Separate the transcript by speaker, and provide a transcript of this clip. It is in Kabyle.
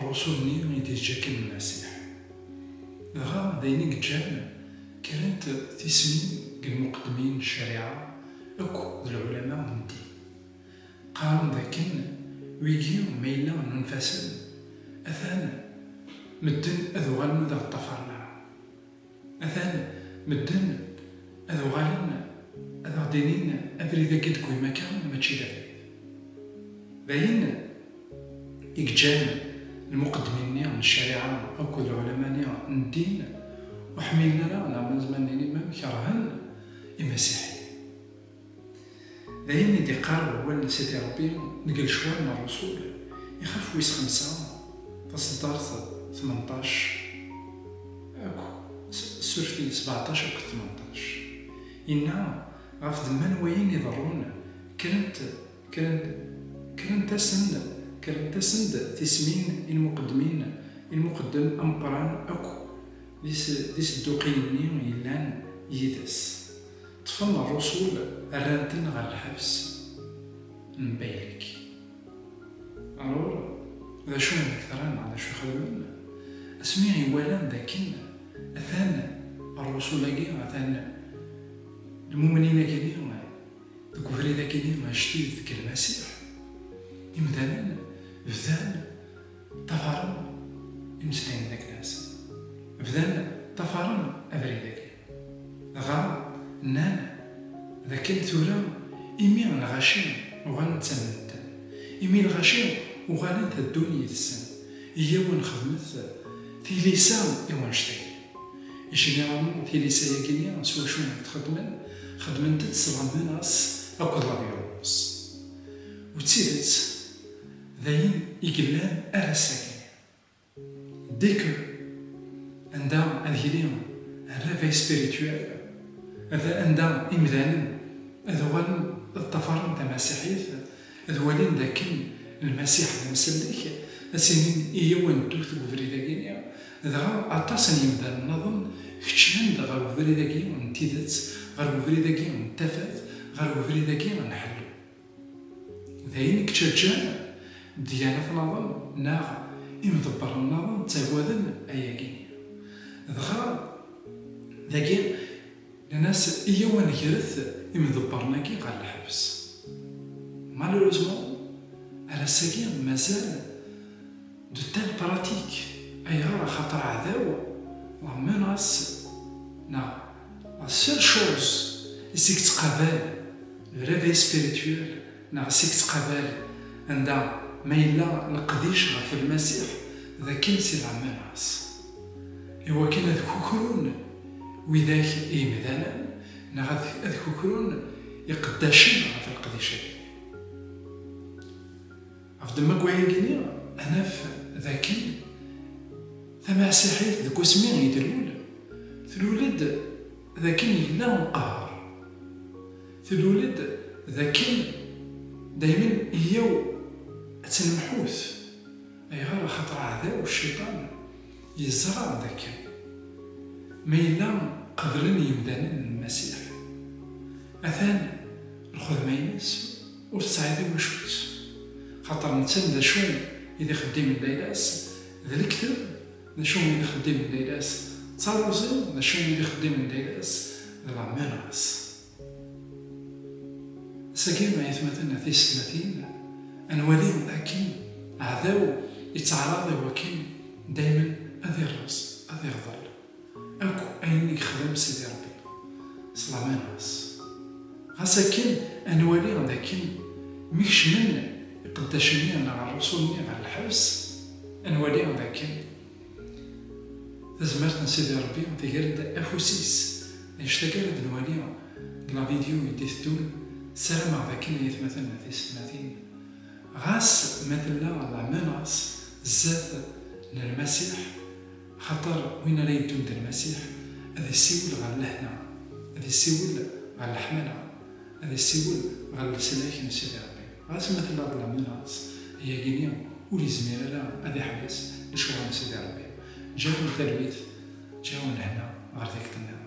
Speaker 1: Rrusul-nni i d-yettakken Lmasiḥ. Dɣa d ayen i yeǧǧan kra-t tismin deg lmuqeddmin n ccariɛa akk d lɛulama n ddin. Qqaren d akken wigi ma yella nunef-asen, atan medden ad uɣalen ur d aɣ-ṭṭafaren ara. Atan medden ad uɣalen ad aɣ-d-inin abrid-agi i d-tewwim akka mačči d abrid. D ayen i yeǧǧan lmuqeddmin-nni n ccariɛa akked lɛulama-nni n ddin ur ḥmilen ara neɣ ma nezmer ad nini mem kerhen imasiḥiyen. D ayen i d-iqqar wawal n Sidi Ṛebbi deg lecwal n Ṛṛusul, ixaf wis xemsa, taṣeddart tmenṭac akk surti sbeɛṭac akked tmenṭac, yenna, Ɣef ddemma n wayen iḍerrun, kkrent-asen-d kkrent-asen-d tismin i lmuqeddmin, i lmuqeddem ameqqran akk d isedduqiyen-nni yellan yid-s. Ṭṭfen rrusul rran-ten ɣer lḥebs n baylek. Aṛur d acu i d-ak-teṛṛan neɣ d acu i xedmen? Asmi i walan d akken atan rrusul-agi, atan lmumnin-agi-ni deg ubrid-agi-ni ajdid deg Lmasiḥ, imdanen bdan ṭṭafaren imeslayen d akken-nsen, bdan ṭṭafaren abrid-agi. Dɣa nnan d akken tura imi lɣaci uɣalen ttamnen-ten, imi lɣaci uɣalen teddun yid-sen, iyyaw ad nexdmet tilisa i wannect-agi. Généralement tilisa-agi-nni s wacu i t-xeddmen? Xeddment-tt s la menace akked la violence. U d tidet d ayen i yellan ar ass-agi. Décor, anda ad yili réveil spirituel, ad anda imdanen ad uɣalen ad ṭṭafaren tamasiḥit, ad walin dakken Lmasiḥ d amsellek, ad s-inin i yaw ad neddu deg ubrid-agi-nni. Dɣa aṭas n yimdanen naḍen keččmen-d ɣer ubrid-agi n tidet, ɣer ubrid-agi n tafat, ɣer ubrid-agi n ḥellu. D ayen i yeţţaǧǧan ddyanet naḍen neɣ imḍebbren naḍen ţţagaden ayagi. Dɣa dagi nnan-as iyyaw a negret imḍebbren-agi ɣer lḥebs. Malheureusement ar ass-agi mazal. De telles pratiques, ayɣer? Axaṭer aɛdaw wa menace neɣ la seule chose i s-yettqabal le réveil spirituel neɣ i s-yettqabal anda ma yella leqdic ɣef Lmasiḥ d akken c'est la menace i wakken ad kukrun widak i yemdanen neɣ ad kukrun iqeddacen ɣef leqdic-agi. Ɣef ddemma n wayagi-nni, ad naf d akken tamasiḥit deg wasmi i d-tlul, tlul-d d akken yella umqahher, tlul-d d akken daymen iyyaw ad tt-nemḥut. Ayɣer? Axaṭer aɛdaw, cciṭan, yeẓra d akken ma yella qeblen yimdanen Lmasiḥ, atan lxedma-ines, Ur tesɛiḍ iwacu-tt, xaṭer nettan d acu i d ixeddimen d ayla-s, d lekteb d acu i d ixeddimen d ayla-s, d taruẓi d acu i d ixeddimen d ayla-s, d lameras. Ass-agi, ay atmaten tisetmatin, ad nwali akken aɛdaw yettaɛraḍ i wakken daymen ad irreẓ, ad irḍel. Akk ayen i yexdem Sidi Ṛebbi, s laman-is. Ɣas akken, ad nwali d akken mi kecmen iqeddacen-nni neɣ rrusul-nni ɣer lḥebs, ad nwali d akken tazmert n Sidi Ṛebbi tger-d afus-is. Annect-agi ara d-nwali deg lavidyu i d-iteddun, ssarameɣ d akken ay atmaten d teysetmatin, ɣas ma tella laman-is sdat n Lmasiḥ, Axaṭer win ara yeddun d Lmasiḥ, ad isiwel ɣer lehna, ad isiwel ɣer leḥmala, ad isiwel ɣer leslak n Sidi Ṛebbi. Ɣas ma tella ḍlamen-as, ayagi-nni ur izmir ara ad iḥbes lecɣal n Sidi Ṛebbi. Ǧǧiɣ-awen talwit, ǧǧiɣ-awen lehna ɣer tikkelt nniḍen.